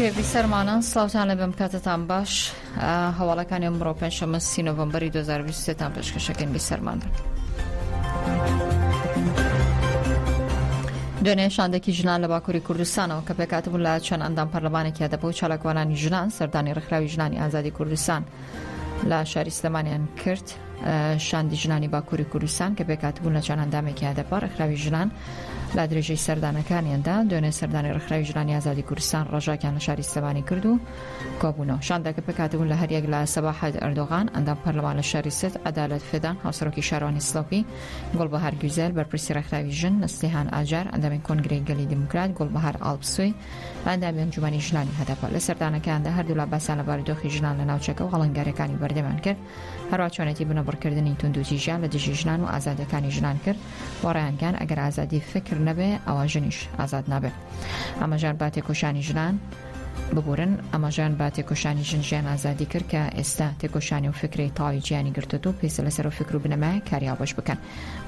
کتێبی سەرمانە سلااوان لە بم کاتتان باش هەواڵەکانی ئەمڕۆ پێنجشەمە سی نۆڤمبەری 2023 تان پێشکەشەکەن بی سەرمان بن. دوێنێ شاندێکی ژنان لە باکووری کوردستانەوە کە پێکاتبوون لە چەند ئەندام پەرلەمانێکیا دەبوو چالاکوانانی ژنان سەردانی ڕخراوی ژنانی ئازادی کوردستان لە شاری سلمانیان کرد. شاندی ژنانی باکووری کوردستان کە پێکاتبوون لە چەند ئەندامێکی هەدەپە ڕێکخراوی ژنان لە درێژەی سەردانەکانیاندا دوێنێ سەردانی ڕێکخراوی ژنانی ئازادی کوردستان ڕژاکیان لە شاری سلێمانی کرد و کۆبوونەوە شاندەکە پێکاتبوون لە هەریەک لە سەباحەت ئەردۆغان ئەندام پەرلەمان لە شاری ست عدالت فدان هاوسەرۆکی شارانی سلۆپی گوڵبەهار گوزەل بەرپرسی ڕێکخراوی ژن نسلیهان ئاجار ئەندامی کۆنگرەی گەلی دیموکرات گوڵبەهار ئاڵپسوی ئەندامی ئەنجومەنی ژنانی هەدەپە لە سەردانەکاندا هەردوولا باسان لە بارودۆخی ژنان لە ناوچەکە و هەڵنگارەکانی بەردەمان کرد هەروا چۆنێتی بنەبڕکردنی توندوتیژیان لە دژی ژنان و ئازادیەکانی ژنان کرد و ڕیانگەیان ئەگەر ئازادی فکر نەبێ ئەوە ژنیش ئازاد نابێت ئەمەژان با تێکۆشانی ژنان ببورن ئەمەژان با تێکۆشانی ژن ژیان ئازادی کرد کە ئێستا تێکۆشانی و فکری تاوی جیانی گرتوت و پێسە لەسەر و فکر و بنەمای کاریاوبش بکەن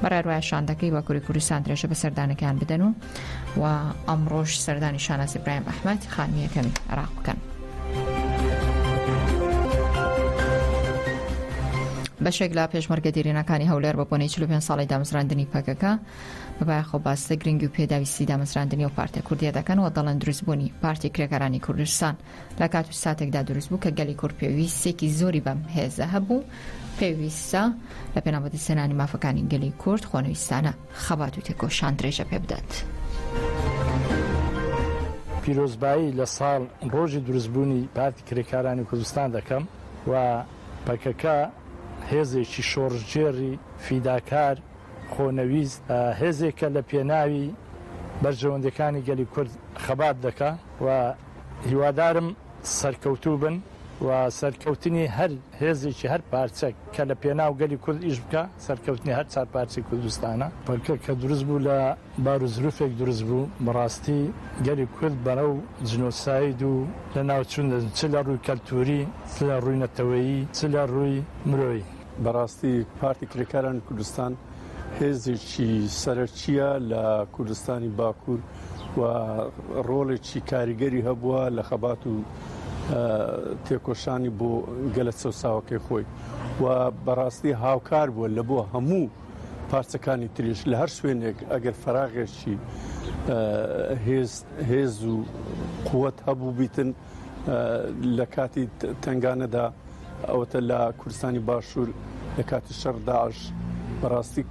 بەڕێ ڕایشاندەکەی وەکوری کوردستان درێژە بە سەردانەکان بدەن و و ئەمڕۆش سەردانی شانازی برایم ئەحمد خانمیەکەمی عراق بکەن. بەشێک لە پێشمەرگە دیرینەکانی هەولێر بە بۆنەی 45 ساڵی دامەزراندنی پەکەکە بەبایخۆ باس لە گرنگی و پێداویستی دامەزراندنی و پارتە کوردیە دەکەن و دەڵێن دروستبوونی پارتی کرێکارانی کوردستان لە کات و ساتێکدا دروست بوو کە گەلی کورد پێویستێکی زۆری بەم هێزە هەبوو پێویستە لە پێناوەدەستێنانی مافەکانی گەلی کورد خۆنەویستانە خەبات و تێکۆشان درێژە پێ بدات. پیرۆزبایی لە ساڵ ڕۆژی دروستبوونی پارتی کرێکارانی کوردستان دەکەم و پەکەکە هێزێکی شۆڕشگێڕی فیداکار خۆنەویست هێزێکە لە پێناوی بەرژەوەندیەکانی گەلی کورد خەبات دەکا و هیوادارم سەرکەوتوو بن و سەرکەوتنی هەر هێزێکی هەر پارچەک کە لە پێناو گەلی کورد ئیش بکا سەرکەوتنی هەر چار پارچەی کوردستانە. پەکەکە کە دروست بوو لە بار و زروفێک دروست بوو بەڕاستی گەلی کورد بەرەو جنۆساید و لە ناو چوون دەچن چ لە ڕووی کەلتووری چ لە ڕووی نەتەوەیی چ لە ڕووی مرۆیی. بەڕاستی پارتی کرێکارانی کوردستان هێزێکی سەرەکیە لە کوردستانی باکوور. و ڕۆڵێکی کاریگەری هەبووە لە خەبات و تێکۆشانی بۆ گەلە چەساوەکەی خۆی و بەڕاستی هاوکار بووە لە بۆ هەموو پارچەکانی تریش لە هەر شوێنێک ئەگەر فراغێکی هێز و قوت هەبوو بیتن لە کاتی تەنگانەدا ئەوەتە لە کوردستانی باشوور لە کاتی شەڕ داعش بەڕاستی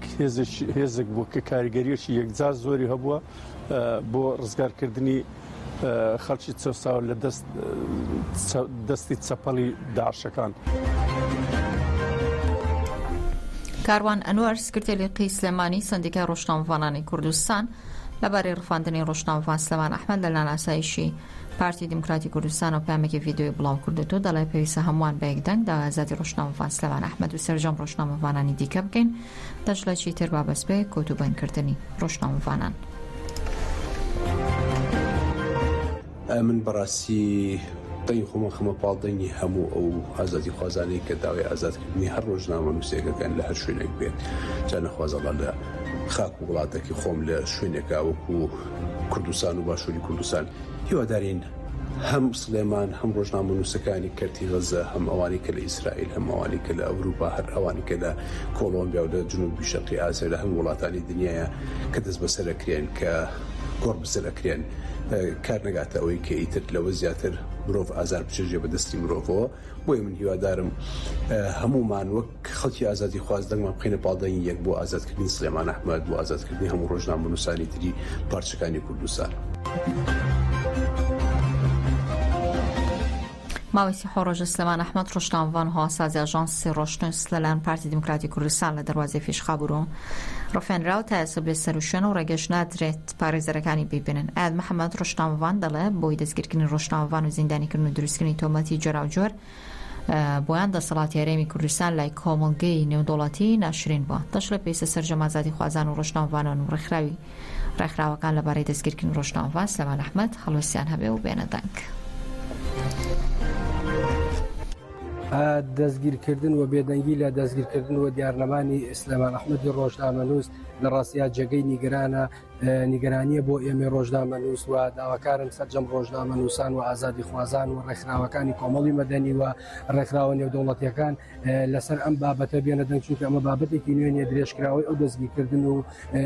هێزێک بوو کە کاریگەریەکی یەکجار زۆری هەبووە بۆ ڕزگارکردنی خەڵکی چەساو لە دەست دەستی چەپەڵی داشەکان. کاروان ئەنوەر سکرتێری قی سلێمانی سندیکای ڕۆژنامەوانانی کوردستان لەبارەی ڕفاندنی ڕۆژنامەوان سلمان ئەحمد لە ناناسایشی پارتی دیموکراتی کوردستانەوە پەیامێکی ڤیدیۆیی بڵاوکردووەتەوە دەڵێت، پێویستە هەمووان بە یەک دەنگ داوای ئازادی ڕۆژنامەڤان سلێمان ئەحمەد و سەرجەم ڕۆژنامەڤانانی دیکە بکەین، دەشڵێت، چیتر با بەس بێ کۆت و بەندکردنی ڕۆژنامەڤانان. من بەڕاستی دەنگی خۆم ئەخەمە پاڵ دەنگی هەموو ئەو ئازادیخوازانەی کە داوای ئازادکردنی هەر ڕۆژنامەنووسێکەکەن لە هەر شوێنێک بێت، جا نەخوازەڵا لە خاک و وڵاتەکەی خۆم لە شوێنێکا وەکوو کوردستان و باشووری کوردستان هیوادارین هەم سلێمان هەم ڕۆژنامە نووسەکانی کەرتی غەزە هەم ئەوانی کە لە ئیسرائیل هەم ئەوانی کە لە ئەوروپا هەر ئەوانی کە لە کۆڵۆمبیا و لە جنوبی شەقی ئازێ لە هەم وڵاتانی دنیاە کە دەست بەسەرەکرێن کە گۆڕ بسەرەکرێن کار نەگاتە ئەوەی کە ئیتر لەوە زیاتر مرۆڤ ئازار بچێژێ بە دەستی مرۆڤەوە بۆیە من هیوادارم هەمومان وەک کە خەڵکی ئازادیخواز دەنگمان بخەینە پاڵ دەنگی یەک بۆ ئازادکردنی سلێمان ئەحمەد، بۆ ئازادکردنی هەموو ڕۆژنامەنووسانی تری پارچەکانی کوردستان. ماوەی سێ ڕۆژە سلێمان ئەحمەد ڕۆژنامەڤان هەواسازی ئاژانسی ڕۆشنوس لەلایەن پارتی دیموکراتی کوردستان لە دەروازەی فیشخابور و ڕفێنراو تا ئێستا بێ سەر و شوێن و ڕێگەش نادرێت پارێزەرەکانی ببینن ئاد محەممەد ڕۆژنامەڤان دەڵێ بۆی دەستگیرکردنی ڕۆژنامەڤان و زیندانیکردن و دروستکردنی تۆمەتی جۆراوجۆر بۆیان دەسەڵاتی هەرێمی کوردستان لای کۆمەڵگەی نێودەوڵەتی ناشرین بووە. دەشڵێ پێویستە سەرجەم ئازادیخوازان و ڕۆژنامەڤانان و ڕێکخراوی ڕێکخراوەکان لەبارەی دەستگیرکردنی ڕۆژنامەڤان سلێمان ئەحمەد هەڵوێستیان هەبێ و بێنە دەنگ. دەستگیرکردن و بێدەنگی لە دەستگیرکردن و دیارنەمانی سلێمان ئەحمەدی ڕۆژنامەنووس لە ڕاستیا جێگەی نیگەرانە، نیگەرانیە بۆ ئێمەی ڕۆژنامە نووس و داواکارم سەررجەم ڕۆژنامە نووسان و ئازادی خوازان و ڕێکخراوەکانی کۆمەڵی مەدەنی و ڕێکخراوە نێودوڵەتیەکان لەسەر ئەم بابەتە بێنە دەنگ چونکە ئەمە بابەتێکی نوێنیە درێژکراوی ئەو دەستگیکردن و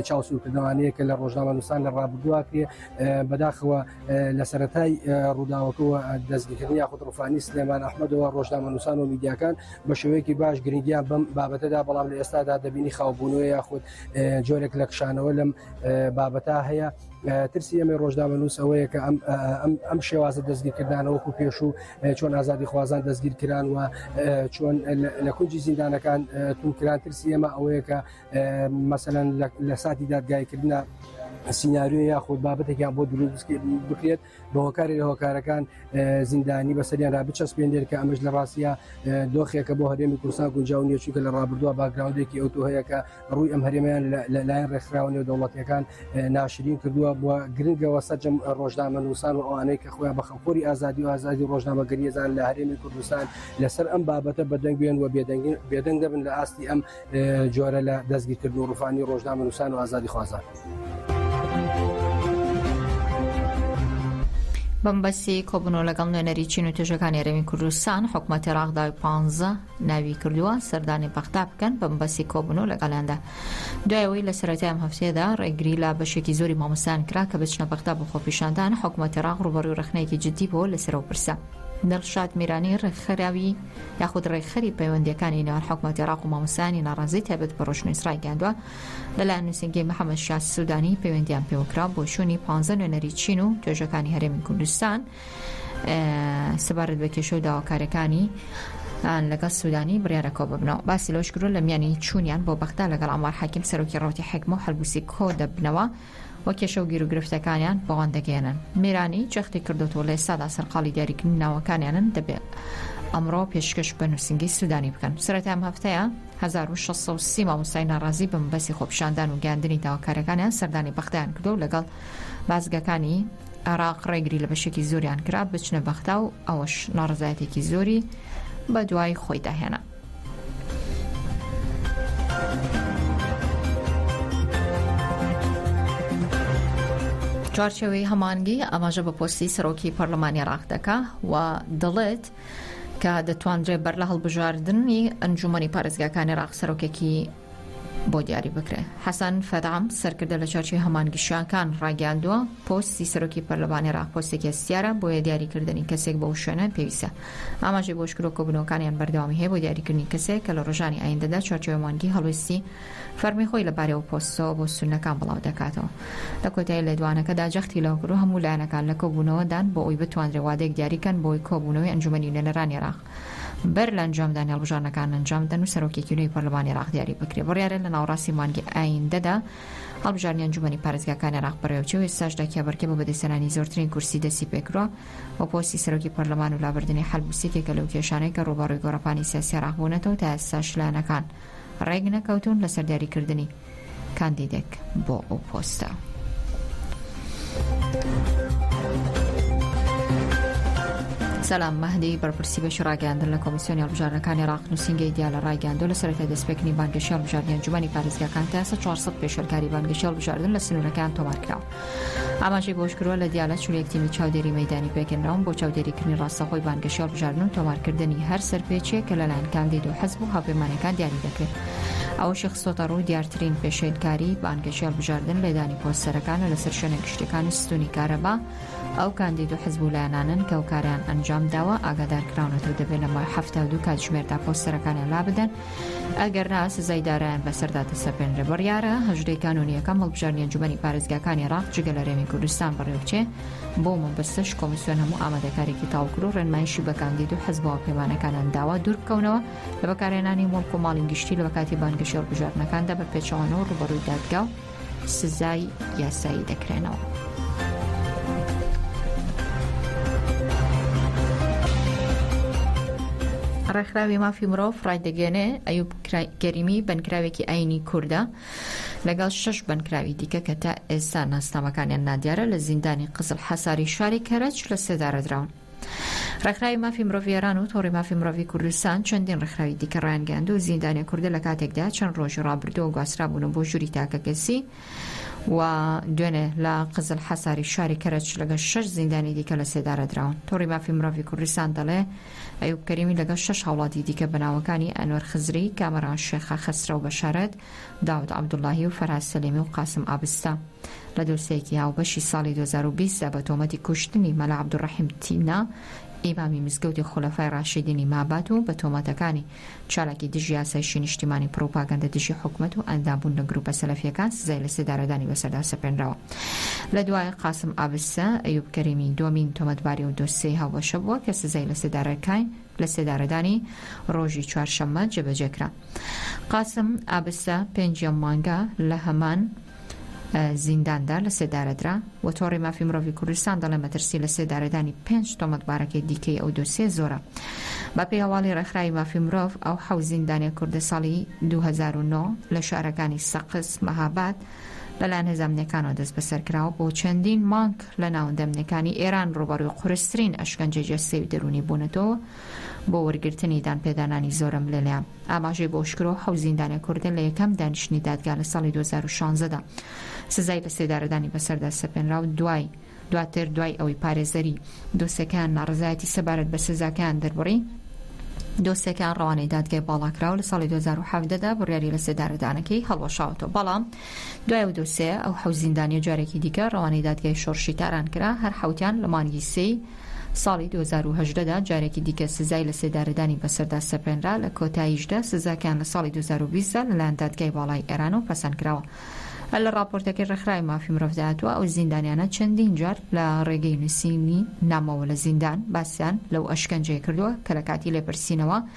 چاوسورکردنەوانەیە کە لە ڕۆژنامە نووسان لە ڕابدووا پێ بەداخەوە لە سەتای ڕووداوەکەەوە دەستگیکردن یاخود ڕفانی سلێمان ئەحمەدەوە ڕۆژنامە نووسان و میدیاکان بە شێوەیەکی باش گرنگیان بەم بابەتەدا بەڵام لە ئێستادا دەبینی خاوبوونەوە یاخود جۆرێک لە کشانەوە لەم بابەتا هەیە ترسی ئەمە ڕۆژنامە نووس ئەوەیە کە ئەم شێوازە دەستگیرکردانەوەکو پێش و چۆن ئازادی خوازان دەستگیر کران و چۆن لە کونجی زیندانەکان تونکران ترسی ئێمە ئەوەیە کە مەسەەن لە ساتی دادگایکردە سینناریو یاخود بابەتێکیان بۆ دروست بکرێت بە هۆکارێک لە هۆکارەکان زیندانی بەسەریان را بچەسپێنێت کە ئەمەش لە ڕاستە دۆخێکە بۆ هەرێمی کوردستان گونجاو نیە چونکە لە ڕابردووە باگراودێکی ئەوتو هەیە کە ڕووی ئەم هەرێمیان لەلایەن ڕێکخراوە نێودەوڵەتیەکان ناشرین کردووە بۆ گرنگەوە سەرجەم ڕۆژنامە نووسان و ئەوانەی کە خۆیان بە خەڵکۆری ئازادی و ئازادی ڕۆژنامەگەریزان لە هەرێمی کوردستان لەسەر ئەم بابەتە بەدەنگ بێن و بێدەنگی بێدەنگ دەبن لە ئاستی ئەم جۆرە لە دەستگیرکردن و ڕووخانی ڕۆژنامەنووسان و ئازادیخوازان. بەمبەسی کۆبنەوە لەگەڵ نوێنەری چین و توێژەکانی رەوین کوردستان حکوومەت عێراقداوی پ ناوی کردووە سەردانی بەغدا بکەن بەمبەسی کۆبنەوە لەگەڵیاندا دوایەوەی لە سەرەتای ئەم هەفتەیەدا ڕێگری لە بەشێکی زۆری مامۆستان کرا کە بچنە بەغدا بۆ خۆپیشاندان حکوومەت عێراق ڕوبەڕوی ڕخنەیەکی جددی بۆ لەسەرەوە پرسە دڵشاد میرانی ڕێکخراوی یاخود ڕێکخەری پەیوەندییەکانی نێوان حکومەتی عێراق و مامۆستایانی ناڕازی تایبەت بە ڕۆژنویس ڕایگەیاندووە لەلایەن نووسینگەی محەمەد شیاع سودانی پەیوەندیان پێوەکرا بۆ چوونی پانزە نوێنەری چین و توێژەکانی هەرێمی کوردستان سەبارەت بە کێشە و داواکاریەکانی لەگەڵ سودانی بڕارەکۆ ببنەوە باسی لەش کرۆ لە میانی چوونیان بۆ بەختا لەگەڵ ئەمار حاکم سەرۆکی ڕوتی حکم و هەلبوسی کۆ دەبنەوە و کێشە و گیروگرفتەکانیان بۆوان دەگەیەنن میرانی جەختی کردۆتەوە لە ئێستادا سەرقاڵی دیاریکردنی ناوەکانیانن دەبێ ئەمڕۆ پێشکەش بە نووسینگەی سودانی بکەن سەرەتای ئەم هەفتەیە 1630 مامۆستای ناڕازی بە مەبەستی خۆپیشاندان و گەیاندنی داواکاریەکانیان سەردانی بەغدایان کردو و لەگەڵ بازگەکانی عێراق ڕێگری لە بەشێکی زۆریان کرا بچنە بەغدا و ئەوەش ناڕزایەتێکی زۆری بە دوای خۆیدا هێنا چوارچێوەی هەمانگی ئاماژە بە پۆستی سەرۆکی پەرلەمانی عراق دەکا و دەڵێت کە دەتوانرێت بەر لە هەڵبژاردننی ئەنجومی پارێزگاکانی عراق سەرۆکێکی بۆ دیاری بکرێت حەسەن فەدام سەرکردە لە چارچی هەمان گشیانکان ڕاگەاندووە پۆستی سەرۆکی پەرلەمانی ڕاق پۆستێکی هەستیارە بۆیە دیاریکردنی کەسێک بەو شوێنە پێویستە ئاماژەی بۆش کرۆ کۆبنەوەکانیان بەردەوامی هەیە بۆ دیاریکردنی کەسێک کە لە ڕژانی ئایندەدا چارچەوە مانگی هەڵویستی فەرمی خۆی لە بارەوە پۆستەوە بۆ سونەکان بڵاو دەکاتەوە لە کۆتای لێدوانەکەدا جەختی لەوکرو هەموو لایەنەکان لە کۆبوونەوەدان بۆ ئەوی بتواندرێ وادەیەک دیاریکەن بۆی کۆبوونەوەی ئەنجومەنی نوێنەرانی ڕاق بەر لە ئەنجامدانی هەڵبژاردنەکان ئەنجام بدەن و سەرۆکێکی نوێی پەرلەمانی عێراق دیاری بکرێت بڕیارە لە ناوەڕاستی مانگی ئایندەدا هەڵبژاردنی ئەنجومەنی پارێزگاکانی عێراق بەڕێوەچێ و ئێستاشدا کێبەرکێ بۆ بەدەستهێنانی زۆرترین کورسی دەستی پێکردووە و پۆستی سەرۆکی پەرلەمان و لابردنی حەلبوس یەکێکە لەو کێشانەی کە ڕووبەڕووی گۆڕەپانی سیاسی عێراق بوونەتەوە تا ئێستاش لایەنەکان ڕێک نەکەوتوون لەسەر دیاریکردنی کاندیدێک بۆ ئەو پۆستە. سەلام مەهدی بەرپرسی بەشی ڕاگەاندن لە کۆمیسیۆنی هەڵبژارنەکانی ڕاق نووسنگی دیا لە ڕایگەاندۆ لە سەرەتای دەستپێکنی بانگەشی هەڵبژاردنیان جوانی پارێزگاکان تا ئێستا 400 پێشێلکاری بانگەشی هەڵبژاردن لە سنوورەکەیان تۆمارکراوە. ئاماژەی بەوەشکردووە، لە دیالە چل و یەک تیمی چاودێری مەیدانی پێکهێنراون بۆ چاودێریکردنی ڕاستەوخۆی بانگەشەی هەڵبژاردن و تۆمارکردنی هەر سەرپێچییەک کە لەلایەن کاندید و حزب و هاوپەیمانەکان دیاری دەکرێت. ئەوەشی خستۆتەڕوو، دیارترین پێشێلکاری بانگەشەی هەڵبژاردن لێدانی پۆستەرەکان و لەسەر شوێنە گشتییەکان و ستوونی کارەبا ئەو کاندید و حزب و لایەنانەن کە ئەو کارەیان ئەنجامداوە ئاگادارکراونەتەوە دەبێت لەماوەی حەفتا و دوو کاتژمێردا پۆستەرەکانیان لابدەن ئەگەرنا سزای دارایان بەسەردا دەسەپێنرێ. بڕیارە هەژدەی کانونییەکەم هەڵبژاردنی ئەنجومەنی پارێزگاکانی عێراق جگە لە رێمی کوردستان بەڕێوبچێ، بەو مەبەستەش کۆمیسیۆن هەموو ئامادەکاریەکی تاوکرد و رێنمایشی بە کاندید و حزب و هاوپەیمانەکانیان داوە دووربکەونەوە لە بەکارهێنانی موڵک و ماڵی گشتی لەکاتی بانگەشەی هەڵبژاردنەکاندا بە پێچەوانەوە رووبەڕووی دادگا و سزای یاسایی دەکرێنەوە. ڕێکخراوی مافی مرۆڤ ڕایدەگەێنێ ئەیوب گەریمی بنکراوێکی ئاینی کووردە لەگەڵ شش بنکراوی دیکە کە تا ئێستا ناسنامەکانیان نادیارە لە زیندانی قزل حەساری شاری کەرەج لە سێدارەدراون. ڕێکخراوی مافی مرۆڤی ئێران و تۆڕی مافی مرۆڤی کوردستان چەندین ڕێکخراوی دیکە ڕایانگەیاند و زیندانیە کوردە لە کاتێکدا چەند ڕۆژی ڕابردووە گواسترابوونە بۆ ژووری تاکەکەسی و دوێنێ لە قزل حەساری شاری کەرەچ لەگەڵ شش زیندانی دیکە لە سێدارە دراون تۆڕی مافی مرۆڤی کوردستان دەڵێ ئەیوب کەریمی لەگەڵ شش هاوڵاتی دیکە بەناوەکانی ئەنوەر خزری کامەران شێخە خەسرە و بەشارەت داود عەبدوڵاهی و فەرهاد سەلیمی و قاسم ئابستا لە دۆسیەیەکی هاوبەشی ساڵی دوو هەزار و بیست دا بە تۆمەتی کوشتنی مەلا عەبدولڕەحیم تینا ئیمامی مزگەوتی خولەفای ڕاشیدینی مابات و بە تۆمەتەکانی چالاکی دژی ئاسایشی نیشتیمانی پڕوپاگەندە دژی حکومەت و ئەندام بوون لە گروپە سەلەفیەکان سزای لە سێدارەدانی بەسەردا سەپێنراوە لە دوای قاسم ئابستا ئەیوب کەریمی دووەمین تۆمەتباری ئەو دۆسیەی هاوبەشە بووە کە سزای لە سێدارەکای لە سێدارەدانی ڕۆژی چوارشەممە جێبەجێ کرا. قاسم ئابسە پێنجیەم مانگە لە هەمان زینداندا لە سێدارەدرا و تۆڕی مافی مرۆڤی کوردستان دەڵێ مەترسی لە سێدارەدانی پێنج تۆمەتبارەکەی دیکەی ئەو دۆسیە زۆرە بە پێی هەواڵی ڕێکخراوی مافی مرۆڤ ئەو حەو زیندانە کوردە ساڵی 2009 لە شارەکانی سەقس مەهاباد لەلایەن هێزامنەکانەوە دەست بەسەر کراوە بۆ چەندین مانک لە ناوەندەمنەکانی ئێران ڕوبەڕوی قورسترین ئەشکەنجە جەستەی و دەرونی بوونەتەوە بۆ وەرگرتنی دانپێدانانی زۆرەملێنە. ئاماژەی بۆ شکرۆ حەوت زیندانیە کوردە لە یەکەم دانیشتنی دادگا لە ساڵی دوو هەزار و شانزە دا سزای لە سێدارەدانی بەسەردا سەپێنرا و دوای دواتر دوای ئەوەی پارێزەری دۆسێکەیان ناڕەزایەتی سەبارەت بە سزاکەیان دەربڕی دۆسێکەیان ڕەوانەی دادگای باڵا کرا و لە ساڵی دوو هەزار و حەڤدە دا بڕیاری لە سێدارەدانەکەی هەڵوەشاوەتەوە بەڵام دوای ئەو دۆسێیە، ئەو حەوت زیندانییە جارێکی دیکە ڕەوانەی دادگای شۆڕشی تاران کرا، هەر حەوتیان لە مانگی سێی ساڵی دوو هەزار و هەژدە دا جارێکی دیکە سزای لەسێدارەدانی بەسەردا سەپێنرا، لە کۆتاییشدا سزاکەیان لە ساڵی دوو هەزار و بیست دا لەلایەن دادگای باڵای ئێرانەوە پەسەند کراوە. هەر لە ڕاپۆرتەکەی ڕێکخراوی مافی مرۆڤدا هاتووە، ئەو زیندانیانە چەندین جار لە ڕێگەی نووسینی نامەوە لە زیندان باسیان لەو ئەشکەنجەیە کردووە کە لە کاتی لێپرسینەوە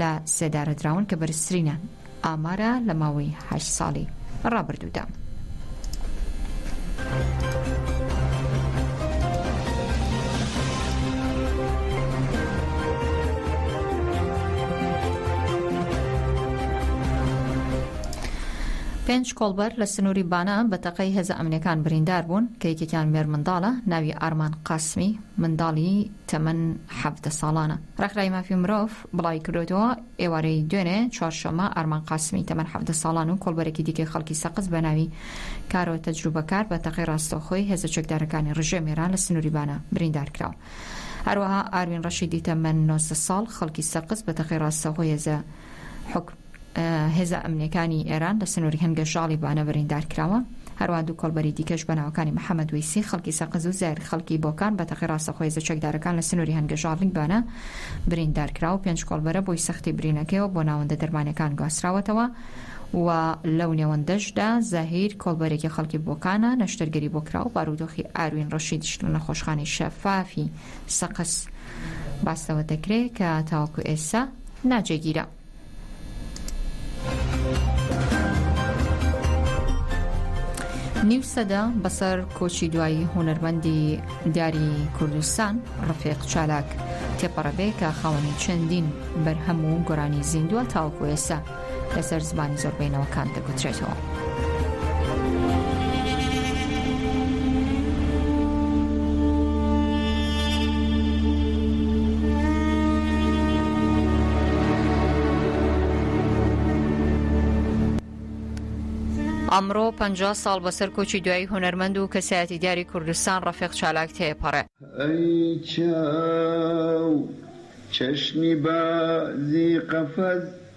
لە سێدارەدراون کە بەرزترینیان ئامارە لە ماوەی هەشت ساڵی ڕابردوودا. پێنج کۆڵبەر لە سنووری بانە بە تەقەی هێزە ئەمنیەکان بریندار بوون کە یەکێکیان مێرمنداڵە ناوی ئارمان قاسمی منداڵی تەمەن حەڤدە ساڵانە. ڕێکخراوی مافی مرۆڤ بڵاویکردووەتەوە، ئێوارەی دوێنێ چوارشەممە ئارمان قاسمی تەمەن حەڤدە ساڵان و کۆڵبەرێکی دیکەی خەڵکی سەقز بەناوی کارۆ تەجروبەکار بە تەقەی ڕاستەوخۆی هێزە چەکدارەکانی ڕژێم ئێران لە سنوری بانە بریندارکراون. هەروەها ئاروین ڕەشیدی تەمەن نۆزدە ساڵ خەڵکی سەقز بە تەقەی ڕاستەوخۆی هێزە هێزە ئەمنییەکانی ئێران لە سنووری هەنگەژاڵی بانە بریندار کراوە، هەروەها دوو کۆڵبەری دیکەش بە ناوەکانی محەمەد وەیسی خەڵکی سەقز و زایر خەڵکی بۆکان بە تەقەی ڕاستەوخۆ هێزە چەکدارەکان لە سنووری هەنگەژاڵی بانە بریندار کراوە، پێنج کۆڵبەرە بۆی سەختی برینەکەیەوە بۆ ناوەندە دەرمانیەکان گواستراوەتەوە و لەو نێوەندەشدا زاهیر کۆڵبەرێکی خەڵکی بۆکانە نەشتەرگەری بۆ کراوە، بارودۆخی ئاروین ڕەشیدیش لە نەخۆشخانەی شەفافی سەقز باس لەوە دەکرێت کە تاوەکو ئێستا ناجێگیرە. نیو سەدە بەسەر کۆچی دوایی هونەرمەندی دیاری کوردستان ڕفێق چالاک تێپەڕەبێ کە خاوەنی چەندین بەرهەم و گۆرانی زیندووە تاوەکو ئێستا لەسەر زمانی زۆربەینەوەکان دەگوترێتەوە. ئەمڕۆ پ ساڵ بەسەر کۆچی دوایی هونەرمەند و کەسایەتی دیاری کوردستان ڕەفێق چالاک تێپەڕێ.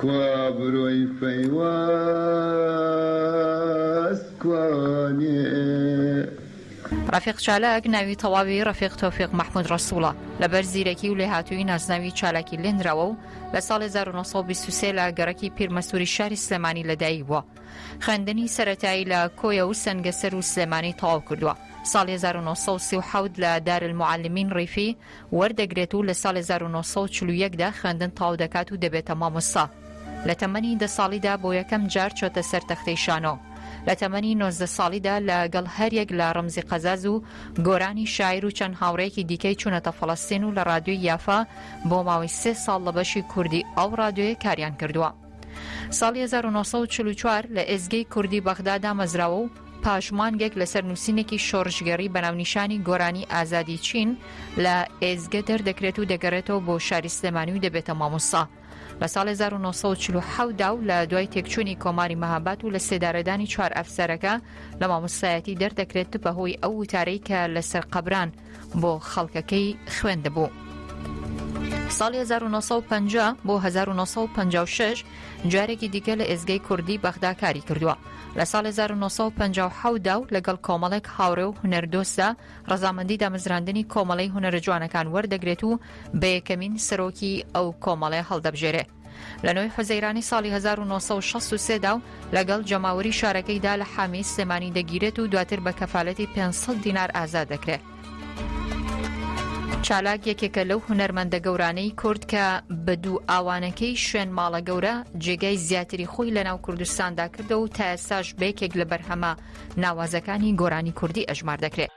کوا برۆی فەیواز کوانێ؟ ڕەفیق چالاک ناوی تەواوی ڕەفیق تۆفیق مەحمود ڕەسوڵە، لەبەر زیرەکی و لێهاتوویی نازناوی چالاکی لێنراوە و لە ساڵی هەزار و نۆ سەد و بیست و سێ لە گەڕەکی پیرمەسووری شاری سلێمانی لەدایک بووە. خوێندنی سەرەتایی لە کۆیە و سەنگەسەر و سلێمانی تەواو کردووە. ساڵی هەزار و نۆ سەد و سی و حەوت لە دارلموعەلمین ڕیفی، وەردەگرێت و لە ساڵی هەزار و نۆ سەد و چل و یەک دا خوێندن تەواو دەکات و دەبێتە مامۆستا. لە تەمەنی دە ساڵیدا بۆ یەکەم جار چۆتە سەر تەختەی شانۆ. لە تەمەنی نۆزدە ساڵیدا لە گەڵ هەر یەک لە ڕەمزی قەزاز و گۆرانی شاعیر و چەند هاوڕێیەکی دیکەی چوونەتە فەڵەستین و لە ڕادیۆی یافا بۆ ماوەی سێ ساڵ لە بەشی کوردی ئەو ڕادیۆیە کاریان کردووە. ساڵی هەزار و نۆ سەد و چل و چوار لە ئێزگەی کوردی بەغدا دامەزراوە و پاش مانگێک لەسەر نووسینێکی شۆڕشگێڕی بە ناونیشانی گۆرانی ئازادی چین لە ئێزگە دەردەکرێت و دەگەڕێتەوە بۆ شاری سلێمانی و دەبێتە مامۆستا. لە ساڵ 1940 دا و لە دوای تێکچوونی کۆماری مەهابات و لە سێدارەدانی چوار ئەفسەرەکە لە مامۆستایەتی دەردەکرێت بەهۆی ئەو وتارەی کە لەسەر قەبران بۆ خەڵکەکەی خوێندبوو. ساڵی 1950 بۆ 1956 جارێکی دیکە لە ئێزگەی کوردی بەغدا کاری کردووە لە ساڵ 1950دا و لەگەڵ کۆمەڵێک هاوڕێ و هونەردۆستدا ڕزامەندی دامەزراندنی کۆمەڵی هونەرە جوانەکان وەردەگرێت و بە یەکەمین سەرۆکی ئەو کۆمەڵێ هەڵدەبژێرێ لە نۆی حوزەیرانی ساڵی 1963 دا و لەگەڵ جەماوەری شارەکەیدا لە حامی سلێمانی دەگیرێت و دواتر بە کەفالەتی 500 دینار ئازاد دەکرێت. چالاک یەکێکە لەو هونەرمەندە گەورانەی کورد کە بە دوو ئاوانەکەی شوێن ماڵە گەورە جێگای زیاتری خۆی لە ناو کوردستاندا کردەوە و تا ئێستاش بەیەکێک لە بەرهەمە ناوازەکانی گۆرانی کوردی ئەژمار دەکرێت.